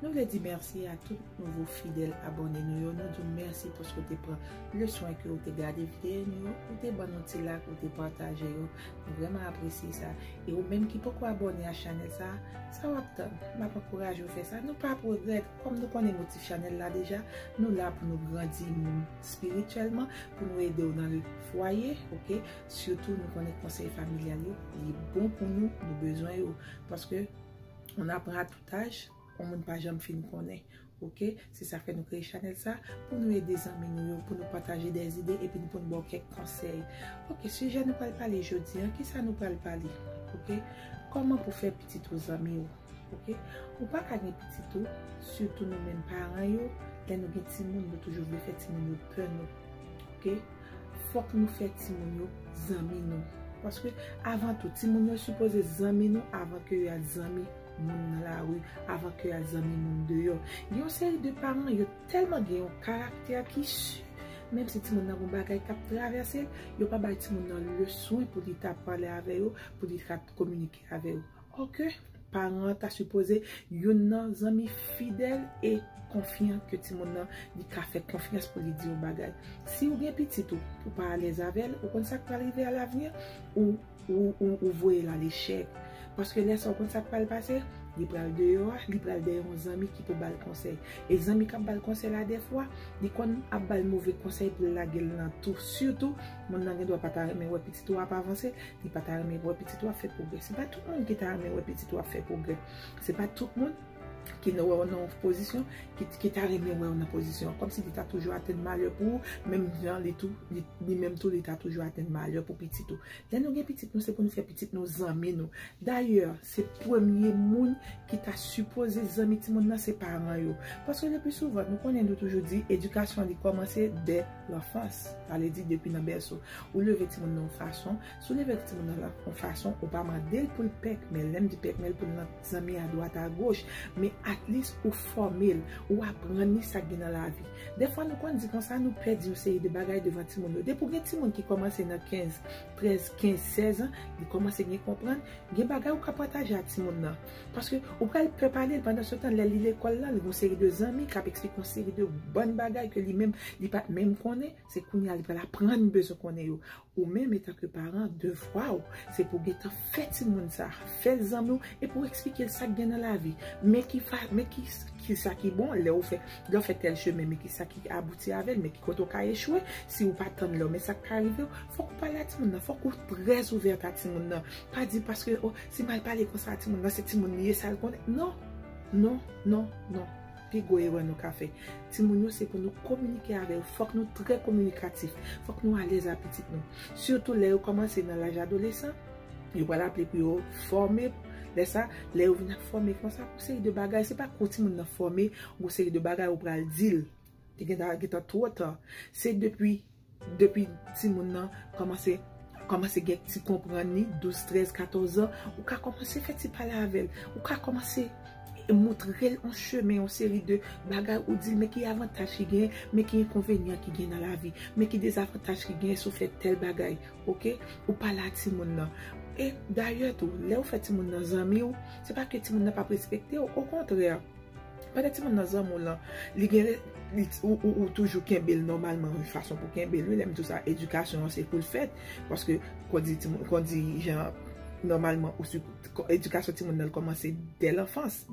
Nou vle di mèsi a tout nouvo fidèl abòne nou yo, nou di w mèsi paske w te pran le swen ke w te gade videyo nou yo, ou te ban nou ti lak, ou te pataje yo, nou vrèman apresye sa. E ou menm ki poko abòne a chanèl sa, sa w ap tann? M ap ankouraje w fè sa, nou pa ap regrèt, kòm nou konnen motif chanèl la deja, nou la pou nou grandi moun spirityèlman, pou nou ede w nan le fwaye, ok, sitou nou konnen konsèy familyal yo, li bon pou nou, nou bezwen yo, paske on apprend à tout. Taj on moun pa janm fin konnen ok se sa fè nou kreye chanèl sa pou nou ede zanmi nou yo pou nou pataje dè zide epi pou nou baw kèk konsèy ok sijè nou pral pale jodi an kisa nou pral pale ok kòman pou fè pitit ou zanmi ou ok ou pa ka gen pitit ou sitou nou menm paran yo lè nou gen timoun nou toujou vle fè timoun yo pè nou ok fòk nou fè timoun yo zanmi nou paske avan tou timoun yo sipoze zanmi nou avan ke yo al zanmi. moun nan lari avan ke yal zanmi moun deyò. Gen yon seri de paran yo tèlman gen yon karaktè ki su, menm si timoun nan gon bagay kap travèse l, yo pa bay timoun nan le swen pou li ta pale avè yo, pou li ta kominike avè yo. Ò ke paran an ta sipoze youn nan zanmi fidèl e konfyan ke timoun nan li ka fè konfyans pou li di yon bagay. Si ou gen pitit ou, ou pa alèz avè l, ou konn sak pral rive alavni, ou. Ou voyel al echek. Paske lè sa ou konn sak pral pase, li pral deyò a, li pral dèyè yon zanmi ki pou bal konsèy. E zanmi kap bal konsèy la dèfwa, li konn ap bal move konsèy pou l lagel nan tou. Sitou, moun nan gen dwa pata renmen wè pitit ou ap avanse, li pata renmen wè pitit ou ap fè pwogrè. Se pa tout moun ki ta renmen wè pitit ou ap fè pwogrè. Se pa tout moun. ki nan wè w nan pozisyon, ki ta renmen wè w nan pozisyon. Kòm si li ta toujou atenn malè pou ou, menm jan li tou, li menm tou li ta toujou atenn malè pou pitit ou. Lè nou gen pitit nou, se pou nou fè pitit nou zanmi nou. Dayè, se premye moun ki ta sipoze zanmi ti moun nan se paran yo. Paske le pli souvan, nou konnen nou toujou di, edikasyon li kòmanse dè lanfans. Sa vle di depi nan bèso. Ou leve ti moun nan yon fason, Si w leve yon timoun nan lank yon fason, ou pa mande l pou l pèkmèl. Lè m di pèkmèl, pou l nan zanmi adwat agoch. Men atlis ou fòme l, ou aprann li sa k gen nan lavi. Dèfwa nou konn di konsa nou pèdi yon seri de bagay devan timoun yo. Depi w gen timoun ki kòmanse nan kenz, trèz, kenz, sèz an, li kòmanse gen konprann, gen bagay ou ka pataje ak timoun nan. Paske ou pral pè pale l pandansetan lè li lekòl la, li gen yon seri de zanmi k ap esplike yon seri de bòn bagay ke li menm li pa t menm konnen. Se kounye a li pral aprann bezwen konnen yo. Ou menm etanke paran, devwa ou se pou w gentan fè timoun sa a, fè l zanmi w e pou w eksplike l sa k gen nan lavi. Men ki sa ki bon lè w fè, lè w fè tèl chemen, men ki sa ki abouti avè l, men ki kote w ka echwe si w pa tann lè w, men sa k ka rive w. Fòk ou pale a timoun nan, fòk ou trè ouvèt a timoun nan. Pa di paske, o, si m al pale konsa a timoun nan, se timoun li ye, sa l konnen. Non! Non! Non! Non! Pi gwo erè nou ka fè. Timoun yo se pou nou kominike avè yo. Fòk nou trè kominikatif. Fòk nou alèz a pitit nou. Sitou lè yo kòmanse nan laj adolesan, yo pral aple pou yo fòme. Lè sa, lè yo vin ap fòme konsa, gon seri de bagay, se pa kou timoun nan fòme, gon seri de bagay ou pral di l. Li gen ta twò ta. Se depi. Depi timoun nan kòmanse kòmanse gen ti konprann li, 12, 13, 14 an, ou ka kòmanse fè ti pale avè l. Ou ka kòmanse montre l yon chemen, yon seri de bagay ou di l men ki avantaj ki genyen, men ki enkonvenyan ki genyen nan lavi, men ki dezavantaj ki genyen si w fè tèl bagay. Ok? Ou pale a timoun nan. E dayè tou, lè ou fè timoun nan zanmi w, se pa ke timoun nan p ap respekte w. Okontrè! Pandan ti moun nan zanmi w lan, li gen ou toujou kenbe l nòmalman yon fason pou kenbe l wi. Lè m di w sa, edikasyon an se pou l fèt. Paske kon di jan nòmalman edikasyon ti moun nan kòmanse dè lanfans.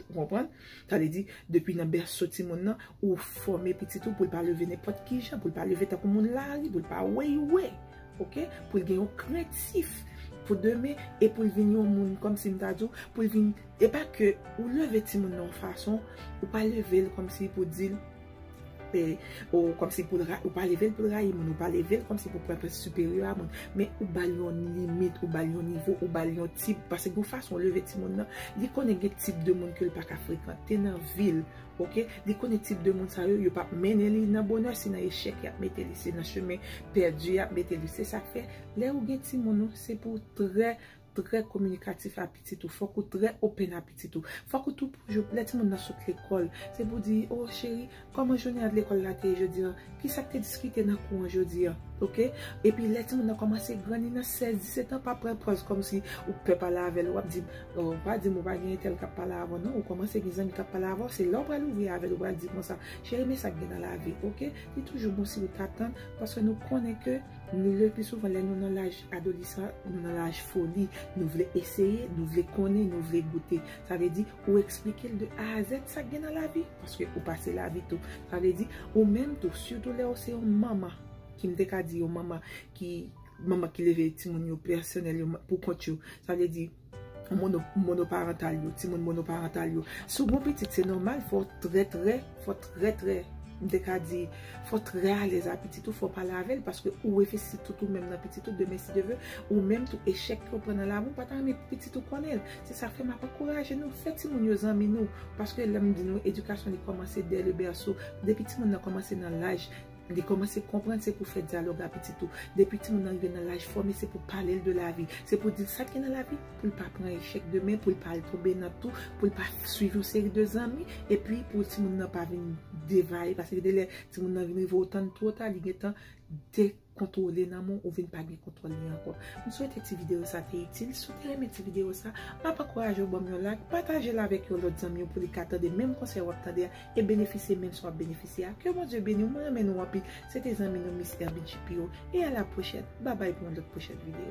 Ou konprann? Sa vle di, depi nan bèso ti moun nan, ou fòme pitit ou pou l pa leve nenpòt ki jan, pou l pa leve tankou moun lari, pou l pa weyewe. Ok? Pou l gen yon krentif pou demen e pou l vin yon moun kòmsi m ta di w, pou l vin E pa ke ou leve timoun nan yon fason, ou pa leve l kòm si pou di l, e, o, kòm si pou l ra, ou pa leve l pou l rayi moun, ou pa leve l kòm si pou l pran plas siperyè a moun, men ou ba l yon limit, ou ba l yon nivo, ou ba l yon tip, pase gon fason ou leve timoun nan, li konnen gen tip de moun ke l pa ka frekante nan vi l, ok, li konnen tip de moun sa yo, yo pa p mennen li nan bonè, se nan echèk y ap mete li, se nan chemen pèdi y ap mete li, se sa k fè, lè ou gen timoun ou, se pou w trè. trè kominikatif a pitit ou, fòk ou trè open a pitit ou. Fòk ou toujou, lè timoun nan sot lekòl, se pou di, o cheri, kòman jounen an lekòl la te ye jodi an? Ki sa k te diskite nan kou an jodi an? Ok? Epi lè timoun nan kòmanse gran, li nan 16, 17 an, pa pran pòz kòm si ou pè pale avè l, w ap di m, o, pa di m ou pa gen entèl k ap pale avè w non, ou kòmanse gen zanmi k ap pale avè w, se la ou pral ouvri avè l, ou pral di l konsa, cheri men sa k gen nan lavi, ok? Li toujou bon si ou ta tann, paske nou konnen ke. Le pli souvan lè nou nan laj adolisan, nou nan laj foli, nou vle eseye, nou vle konnen, nou vle goute. Sa vle di, ou eksplike l de A a Zèd sa k gen nan lavi, paske ou pase lavi tou. Sa vle di, ou menm tou, sitou lè ou se yon manman, ki m te ka di yon manman ki, manman ki leve timoun yo pèsonèl yo, pou kont yo. Sa vle di, Monoparantal yo, timoun monoparantal yo. Si w gon pitit, se nòmal fò trè trè, fò trè trè, m te ka di, fò trè alèz a pitit ou, fò pale avè l, paske ou evesti tout ou menm nan pitit ou, demen si Dye ve, ou menm tou echèk ke w pran nan lavi w pa ta renmen pou pitit ou konnen l. Se sa fè m ap ankouraje nou, fè timoun yo zanmi nou, paske lè m di nou edikasyon li kòmanse dè le bèso, depi timoun nan kòmanse nan laj. Li kòmanse konprann se pou fè dyalòg a pitit ou. Depi timoun nan rive nan laj fòme se pou pale l de lavi. Se pou di l sa k gen nan lavi pou l pa pran echèk demen, pou l pa al tonbe nan tou, pou l pa suiv yon seri de zanmi epi pou timoun nan pa vin devaye. Pase gen de lè timoun nan vin rive ou tann twò ta li gentan dekontwole nan men w, ou vin pa gen kontwòl li ankò. M swete ti videyo sa te itil. Si w te renmen ti videyo sa, m ap ankouraje w ban m yon lak, pataje l avèk yon lòt zanmi w pou li ka tande menm konsèy w ap tande a e benefisye menm si wap benefisye a ke Bondye beniw mwen renmen nou anpil se te zanmi nou Miss Herby GPO e a la pwochèn babay pou yon lòt pwochèn video.